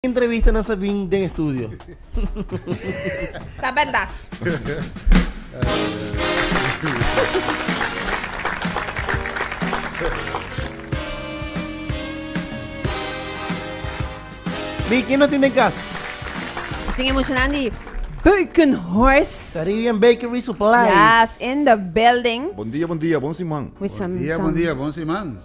Entrevistanan sa bin den estudio. Ta bèldat. Bi, ken no tin den kas? Sin e muchanan di Bacon Horse. Caribbean Bakery Supplies. Yes, in the building. Bon dia, bon dia, bon siman. With some, Dia, bon some dia, bon siman.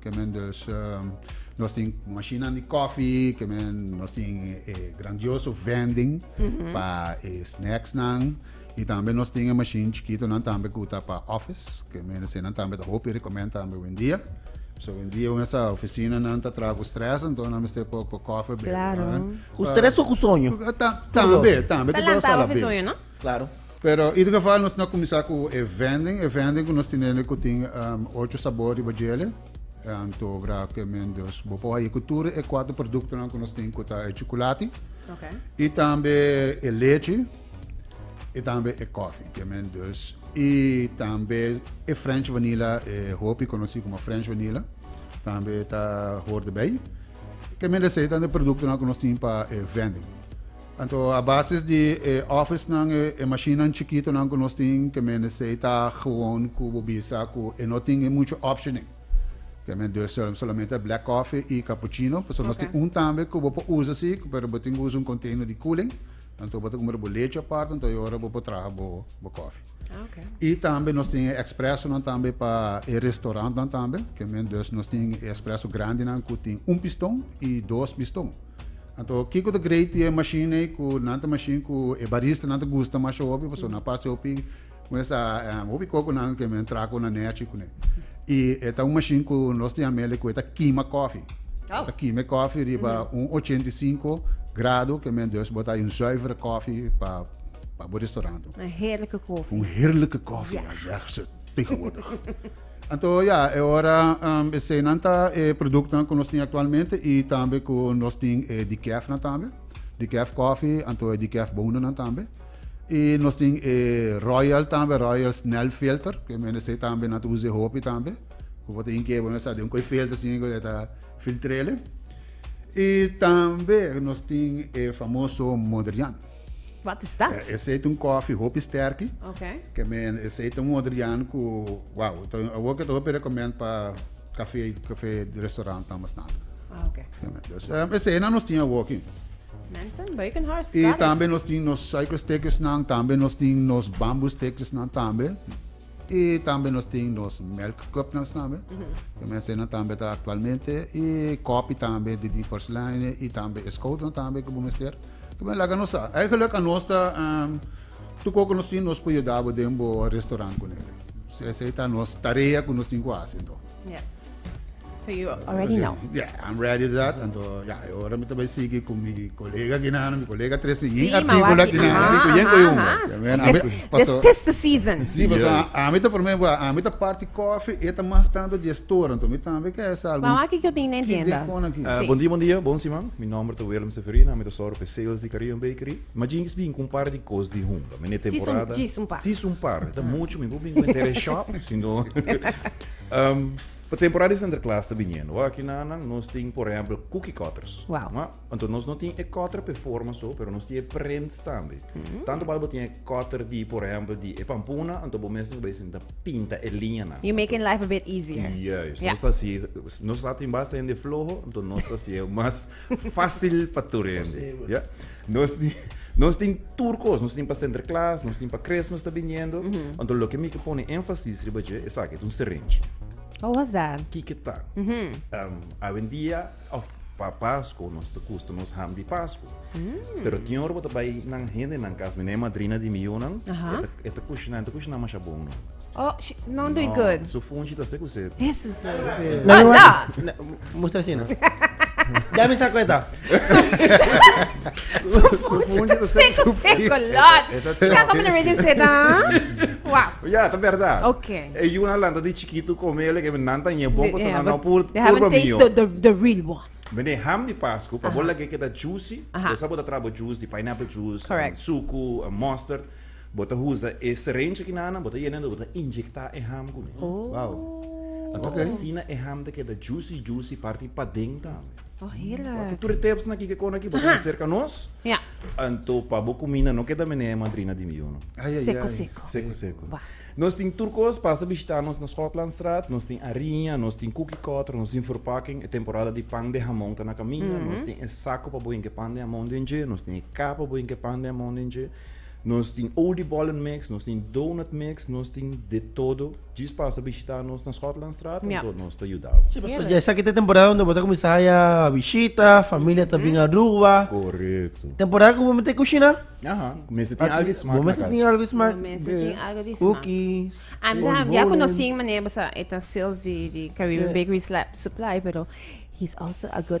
que men dus um, nos tin machina di coffee que men nos tin eh, grandioso vending mm -hmm. pa eh, snacks nan y tambe nos tin een machine chiquito nan tambe kuta pa office que men se nan tambe ta hopi recommend tambe hoy dia So hoy dia un esa oficina nan ta trago stress entonces nan mester po coffee claro. Usted é só com sonho. Tambe, tambe. Tá lá, tá oficina, não? Claro. Pero ieder geval nos na cuminsa cu e vending, e vending cu nos tinende cu tin ocho sabor riba djele, antogra cu e men dos bo por haye cu tur e cuatro productonan cu nos tin cu ta e chocolati, okay. y tambe e leche, y tambe e coffee, que men dos, y tambe e French vanilla, e hopi conoci como French vanilla, tambe ta hoort erbij. Que men de setan de productonan cu nos tin pa e vending. Anto a basis di e officenan e mashinnan chikitonan ku nos tin ke men esei ta gewoon ku bo bisa ku e no tin muchu optionnan. Ke men dos solo solamente black coffee i cappuccino pasobra nos tin un tambe ku bo por usa si pero bo tin ku usa un container di cooling anto bo ta kumbra bo lechi apart anto e ora bo por traha bo kofi. I tambe nos tin e expresonan tambe pa e restaurantnan tambe ke men dos nos tin e expreso grandinan ku tin un piston i dos piston. Anto kiko ta grei ti e mashin ei ku nan ta mashin ku e baristanan ta gusta masha hopi pasobra nan pasa hopi con esa em, hopi kokonan ke men traha ku nan'e achi kuné. I e ta un mashin ku nos ta yama el ku e ta kima kofi. E ta kima e kofi riba un ochenta i sinku grado ke men dus botá un zuivere kofi pa pa bo restaurant. Een heerlijke koffie. Un heerlijke koffie, ja zegt ze tegenwoordig. Anto ya, e ora esenan ta e produktonan ku nos tin aktualmente i tambe ku nos tin e Dikèfnan tambe, Dikèf kòfi, anto e Dikèf bounanan tambe. I nos tin e Royal tambe, Royal Snelfilter, ku e mendense tambe nan ta usa e hopi tambe, ku bo ta tin ke bo mester sa den un koe filter sin ku e ta filtr'e. I tambe nos tin e famoso Modrian. Wat is dat? E aceite un coffee hopi sterki. Okay. Ke men aceite un modrian ku wow, ta awor ke ta hopi recommend pa café café restaurant tan bastan. Ah, okay. Ja, men. Dus um, ese na nos tin awor ki. Mensen, Beukenhorst, I tambe nos tin nos suikersteekjes nan, tambe nos tin nos bamboesteekjes nan tambe. Y tambe nos tin nos melk cupnan tambe, cu mensanan tambe ta actualmente, y copi tambe di diverse lijnen, y tambe e schotelnan tambe cu bo mester. Cu men laga nos sa. Eigenlijk anos ta tuco cu nos tin nos por yuda bo den bo restaurant cu nere. Esey ta nos tarea cu nos tin cu haci anto. So you already know. Yeah, I'm ready to that. Anto, ja, e ora mi ta bai sigi ku mi kolega kinana, mi kolega tresi yin Sí, ma artikulo wak- kinana. aha, Rico, yen aha, ko yung, aha. ja, men, This- ami- this paso- tis the season. Sí, pero so, Juist. a, a mi ta primer, a mi ta party coffee, e ta mas tanto di store, anto mi tambe ke es algo. Wawa ki yo tin den Ki tienda. dekona ki? Eh, Sí. Bon dia, bon dia, bon siman. Mi nomber ta Willem Severina, mi ta soro pe sales di Caribbean Bakery. Ma jinx bin kun par di kos di hunga. Mene temporada. jis un par. Jis un par. Ta mucho, mi bo bin ku entera shop, sino Pa temporada di Sinterklaas ta biniendo aki na nan, nos tin por ehempel cookie cutters. Wow. Ma, anto nos no tin e cutter pe forma so, pero nos tin e print tambe. Mm. Tanto bal bo tin e cutter di, por ehempel, di e pampuna, anto bo mes bo sinta pinta e liñanan. You making life a bit easier. Juist, Yeah. nos ta si, nos sa tin basta hende floho, anto nos ta si e mas Fácil pa tur hende. Ja? Nos, nos tin tur cos, nos tin pa Sinterklaas, nos tin pa Christmas ta biniendo. Mm -hmm. Anto lo que mi que pone énfasis riba je, es aquí, un serenchi. Oh, was that? Kike ta. Mm -hmm. um, awendia, of pa Pasco, nos te gusta nos ham di Pasco. Mm. Pero tin ora bota bai nan hende nan casa, mi madrina di mi yunan, uh -huh. eta, eta cushina, eta cushina masha bon. Oh, she don't do it good. Su funchi ta seku se. Jesus. Anda. Musta sina. Dami sa kweta. Su funchi ta seku seku lot. Kya kom na region se ta? Wow. Ja, ta verdad. Okay. E yuna lanta di chikitu komele ke nan ta nye bon kosa nan pur pur ba mio. They the the real one. Bene ham di Pasco, pa bola ke ke ta juicy, kosa bo ta trabo juice di pineapple juice, suku, mustard. Bo ta usa e syringe kinanan, bo ta yena bo ta inyecta e ham kune. Wow. Anto asina e ham ta keda juicy juicy parti paden tambe. Oh hela. Wak tur e tips na kike kon aki bo ta serka nos. Ja. Anto pa bo kumina no keda mene madrina di mi uno. Ay ay seko seko. Seko seko. Wa. Nos tin tur kos, pasa bishita nos na Schotlandstraat, nos tin ariña, nos tin cookie cutter, nos tin verpakking, e temporada di pan di hamon ta na kaminda, nos tin e sako pa bo hinka e pan di hamon den dje, nos tin e kap pa bo hinka e pan di hamon den dje. Nos tin Oldie Bollen Mix, nos tin Donut Mix, nos tin de todo. Djis pasa bishita nos na Schotlandstraat en tot nos ta yuda bo. Sí, pasobra dja esaki ta e temporada unda bo ta kuminsá haya bishita, familia ta bin Aruba. Korekto. Temporada ku bo mester kushiná. Aha, ku mester tin algu smak na kas. Bo mester tin algu smak. Bo mester tin algu di smak. Cookies, Oldie Bollen. Anda, ya ku no sin manera bo sa e ta sales di Caribbean Bakery Supply, pero he is also a good.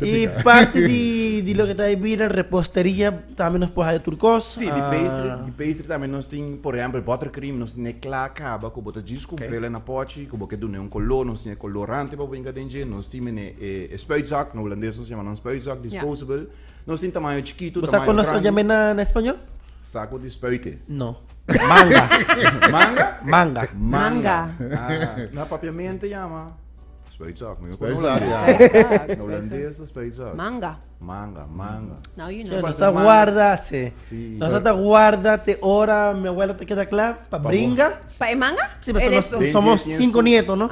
y parte di lo que ta ahí bira reposteria tambe nos por haya tur cos. Sí, di pastry, di pastry tambe nos tin, por ejemplo, buttercream, nos tin e cla caba cu bo ta djis cumprela na pochi, cu bo ke dun'e un color, nos tin e colorante pa bo yinga den dje, nos tin mene e spuitzak, na Hulandes nos yama nan spuitzak, disposable, nos tin tamaño chikito, tamaño grandi. Bo sa cu nos ta djame na español? Sa cu di spuite? No. Manga. Manga? Manga. Manga. Na papiamento yama. Speitsag, mi no kono holandés. Holandés ta speitsag. Manga. Manga, manga. Now you know. Nos a guarda se. Nos a guarda te ora mi abuela ta keda kla pa bringa. Pa e manga? Si, pa nos somos cinco nietos, no?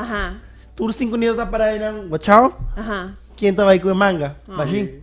Tur cinco nietos ta para einan, wachao. Kien ta bai ku e manga? Bashin.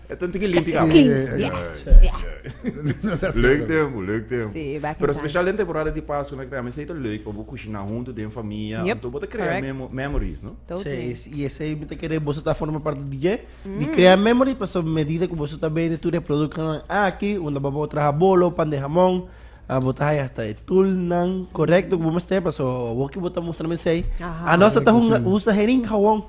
E ta tiki limpi kamer. Ski. Leuk tempo, leuk tempo. Sí, back in Pero time. special den temporada di Pascu na crea mester ta leuk pa bo cushina hunto den famia. Yep, Anto bo ta crea correct. memo- memories, no? Totally. Sí, y esei mi ta kere boso ta forma parte di dje, di crea memory, pasobra medida cu boso ta bende tur e productonan aki, unda bo bo traha bolo, pan di hamon, ah, bo ta haya hasta e tulnan correcto cu bo mester, pasobra awoki bo ta mustra mi esei. Aha. Anos ata hunga- usa hering hawon.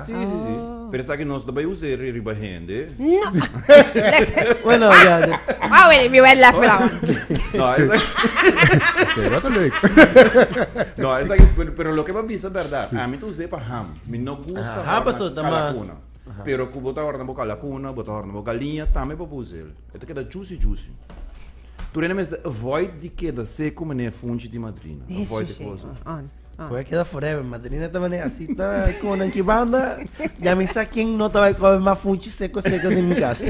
Si, si, si. Pero esaki no ta bai usa e riba hende. No. Bueno, ya. Wou, e mi wou lèf la. No, esaki. Se wou ta leuk. No, esaki, pero loke pa bisa bèrdat, ami ta usa e pa ham. Mi no gusta horna kala kuna. Pero ku bo ta horna bo kala kuna, bo ta horna bo galiña, tambe bo por usa el. E ta keda juicy juicy. Tur hende mester avoid di keda seku manera funchi di madrina. Avoid e kosa. Ah. Koe keda forever, madrina taba ne asi ta como nan kibanda, ya mi sa ken no taba koe ma funchi seco seco sin mi casa.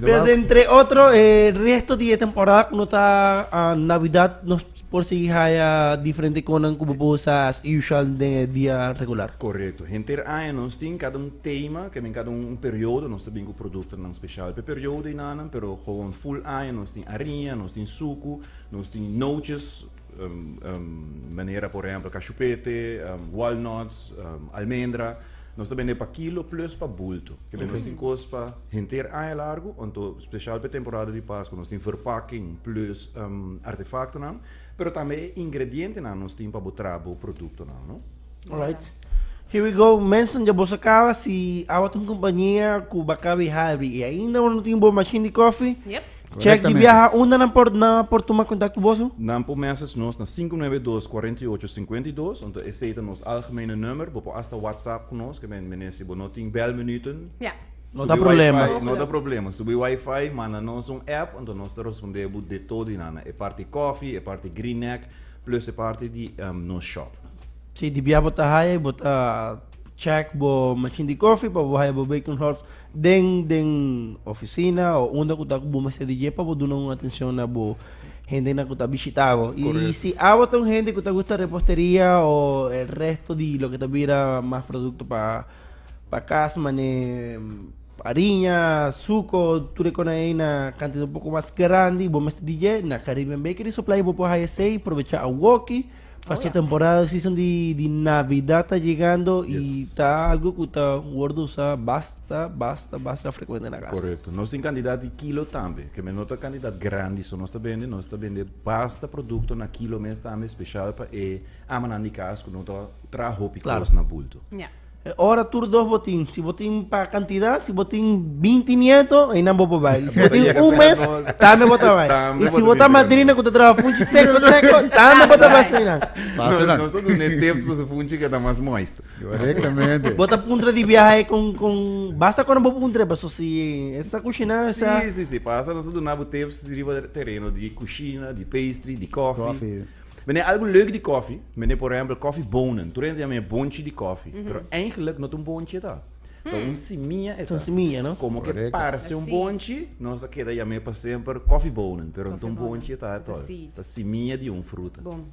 Pero entre otro, eh, resto di temporada no ta uh, Navidad no por si haya diferente konan kubo bosa as usual de dia regular. Correcto. Henter aña nos tin cada un thema, que men cada un, un periodo, nos ta bin cu producto nan special pe periodo y nanan, pero gewoon full aña nos tin ariña, nos tin suku, nos tin nootjes, Manera por ehempel kashupete, walnuts, almendra. Nos ta bende pa kilo plus pa bulto. Ke nos tin kos pa henter aña largu anto spesial pa e temporada di Paskua nos tin verpakking plus artefaktonan pero tambe e ingredientenan nos tin pa bo traha bo produktonan no. Alright. Here we go mensen dja boso kaba si awa ta un kompania ku ba kabi halvi i ainda bo no tin bo mashin di kofi. Check di biaha unda nan por nan por tuma contact cu boso? Nan por message nos na 592-4852, anto esey ta nos algemene nummer. Bo por hasta WhatsApp cu nos, kende mene si bo no tin bel minuten, Ja. No ta subi problema. wifi, no ta problema. Subi wifi, manda nos un app, anto nos ta responder bo di todo di nan. E parti coffee, e parti green neck, plus e parti di em nos shop. Si di biaha bo ta haya y bo ta check bo machine di coffee pa bo haya bo Bacon House. Den den oficina o unda cu ta cu bo mester di dje pa bo duna un atencion na bo hendenan cu ta bishita bo. Y Correcto. si awa ta un hende cu ta gusta reposteria o el resto di loke ta bira mas producto pa pa cas mane ariña, suco, tur e cona ey na cantidad un poco mas grandi bo mester di dje na Caribbean Bakery Supply bo por haya esey probecha awoki. Pasobra e temporada, e season di Navidad ta yegando i ta algu ku ta wòrdu usá basta, basta, basta frekuente na kas. Korekto. Nos tin kantidat di kilo tambe. Ke men no ta kantidat grandi so nos ta bende, nos ta bende basta produkto na kilo mes tambe, speshal pa e amanan di kas ku no ta traha hopi kos na bulto. E ora tur dos bo tin. Si bo tin pa kantida, si bo tin binti nieto, einan bo por bai. Si bo tin un mes, tambe bo ta bai. I si bo ta madrina ku ta traha funchi seko seko, tambe bo ta bai asina nan. Pasa nan. Nos ta dun'é tips pa su funchi ku e ta mas moist. Korektamente. Bo ta puntra di biahe kon kon basta konan bo puntra e paso si e sa kushiná e sa. Si si si pasa nos ta duna bo tips riba tereno di kushina, di pastry, di kofi. Kofi. Mende e algu leuk di kòfi, mende por ehèmpel kòfibonen. Tur hende ta yama e bonchi di kòfi, pero eigentlik no ta un bonchi e ta. Ta un simia e ta. Komo ke parse un bonchi, nos a keda yam'é pa semper kòfibonen, pero no ta un bonchi e ta ato. Ta simia di un fruta. Bom.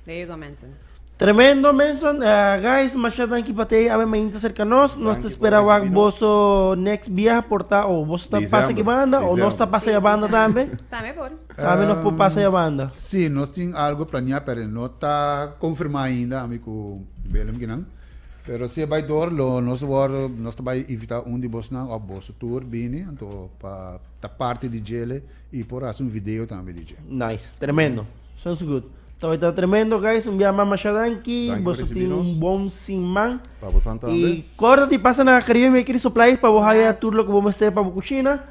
Der you go Menson. Tremendo Menson, guys masha danki pa tei awe mainta serka nos, nos ta spera wak boso next biaha por ta o boso ta pasa aki banda o nos ta pasa ya banda tambe. Tambe por. Ta ami nos por pasa ya banda? Sí, nos tin algo planeá, pero no ta confirmá ainda, ami cu Willem kinan. Pero si e bai dor, lo nos worde, nos ta bai invitá un di bosnan of boso tur bini, anto pa ta parti di djele y por haci un video tambe di dje. Nice, tremendo. Sounds good. Ta bai ta tremendo, guys. Un bia mas masha danki. Danki pa Boso tin ricibinos. un bon siman. Pa bosan tambe. Y corda di pasa na Caribe Bakery Supplies pa bo haya Yes. tur loke bo mester pa bo cushina.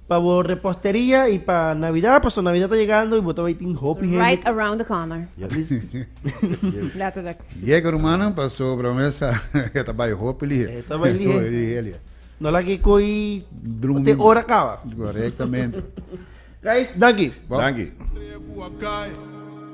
Pa bo reposteria y pa Navidad, paso Navidad ta yegando y bo ta bay tin hopi hende. Right around the corner. Letterlijk. Yega rumannan, paso Bra Mesa e ta bay hopi lihe. E ta bay lihe. No lag'e coy te ora caba. Correctamente. Guys, danki. Danki.